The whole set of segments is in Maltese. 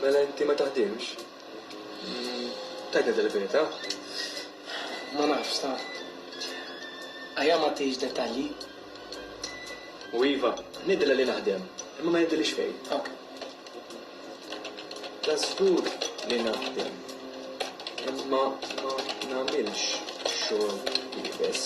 Mela inti ma taħdimx? Tgħidna dil-verità. Ma nafx, sa. Ajja ma tgħidx dettalji. U iva, ngħidilha li naħdem, imma ma jgħidilix fejn. Ok. Ta' żgur li naħdem, imma ma nagħmilx xogħol iebes.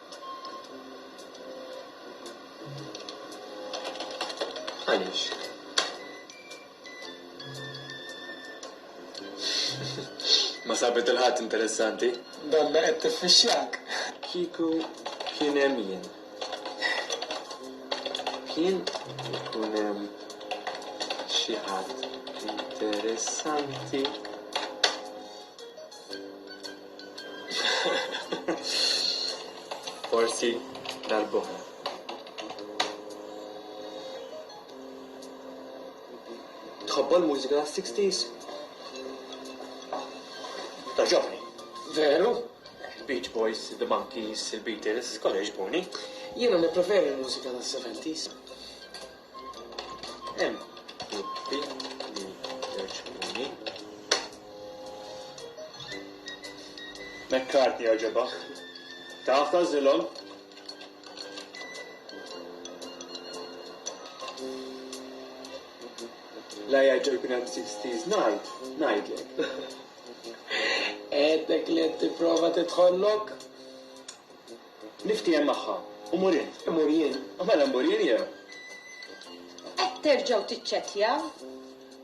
Ma sabet il-ħadd interessanti. Donna qed tiffixxjak. Kieku kien hemm jien. Kien ikun hemm xi ħadd interessanti. Forsi darb'oħra. Tħobba l-mużika 60s? Taġobni. Veru? Beach Boys, The Monkees, il-Beatles, kollha jġbuni. Jiena nippreferi l-mużika tas-70s. Hemm gruppi li jogħġbuni. McCartney jogħġobok. Taf ta' żilhom? La jaġġa jkun hemm 60s night, ngħidlek. Għedek li qed tipprova tidħollok? Niftiehem magħha u mur jien. Immur jien? U mela mmur jien jew? Qed terġgħu tiċċettjaw?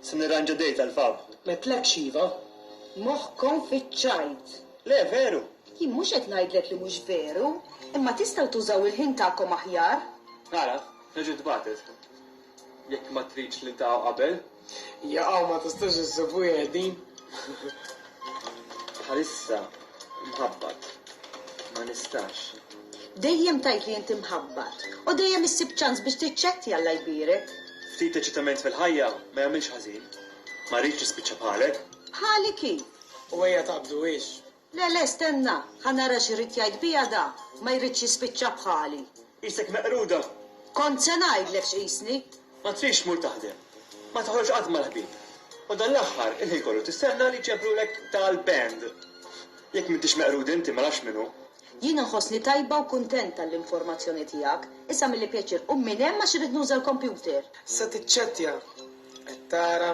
Se nirranġa date għall-pub. M'għedtlekx iva? Moħħkom fiċ-ċajt! Le, veru! Jien mhux qed ngħidlek li mhux veru, imma tistgħu tużaw il-ħin tagħkom aħjar. Ara, reġgħet bagħtet. Jekk ma tridx niltaqgħu qabel. Jaqaw ma tistax issib wieħed din. Bħalissa mħabbat. Ma nistax. Dejjem tgħid li inti mħabbat u dejjem issib ċans biex tiċċetti Alla jbierek. Ftit eċitament fil-ħajja ma jagħmilx ħażin. Ma rridx nispiċċa bħalek. Bħali kif? U ejja taqbduhiex. Le, le, stenna, ħa nara x'irrid jgħid biha da, ma jridx jispiċċa bħali. Qisek meqruda! Kont se ngħidlek x'qisni! Ma tridx tmur taħdem. Ma toħroġx qatt mal-ħbieb. U dan l-aħħar, il-ħin kollu tistenna li jġebrulek dal-band! Jekk m'intix meqrud inti, ma nafx min hu. Jien inħossni tajba u kuntenta għall-informazzjoni tiegħek. Issa milli pjaċir, qum minn hemm għax irrid nuża l-kompjuter! Se tiċċettja! Qed tara?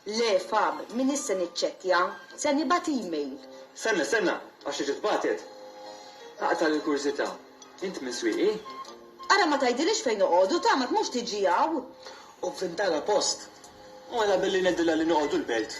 Le, Fab, m'iniex se niċċettja. Se nibgħat email. Stenna, stenna, għax tiġi tbagħtet. Aqta' l-kurżità, int minn Swieqi? Ara ma tgħidilix fejn noqogħdu, tagħmak mhux tiġi hawn. U f'Vindala post. Mela billi ngħidilha li noqogħdu l-Belt.